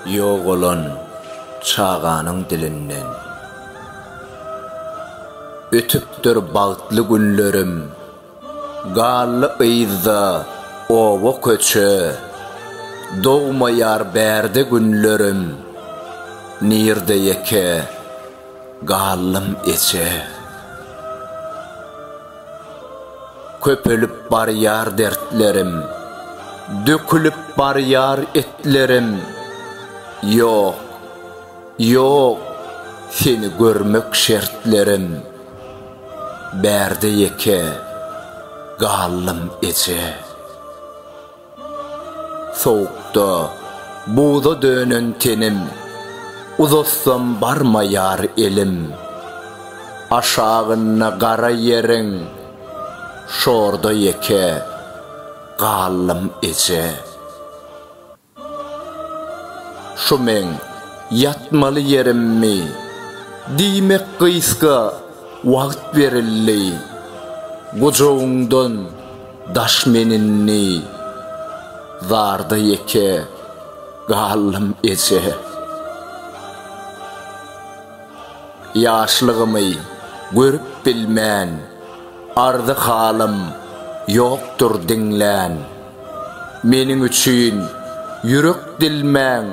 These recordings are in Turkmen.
Ýogalan çaganyň dilinden. Ötüpdir bagtly günlerim, Galdy yzda oba-köçe, Dogmaýar bärde günlerim, Nirde ýeke Gallym eje. Köpelip barýar dertlerim, Dökülip barýar etlerim, Ýok, ýok, seni görmek şertlerim, Bärde ýeke gallym eje. Sowukda buza dönen tenim, Uzatsam barmaýar elim. Aşagynda gara ýeriň, Şorda ýeke galdym eje. Şu meň ýatmaly ýerimmi? Diýmek gysga wagt berildi. Gujagyňdan Daş men indi zarda ýeke galdym eje. Ýaşlygymy görüp bilmän ardy halym ýokdur diňlän. Meniň üçin ýürek dilmäň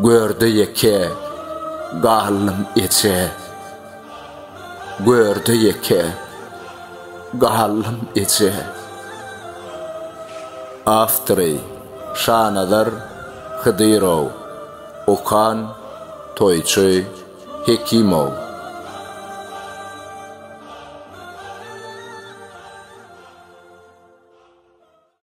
görde ýeke galdym eje. Görde ýeke galdym eje. Awtory, Şanazar Hydyrow. Okan, Toýçy Hekimow.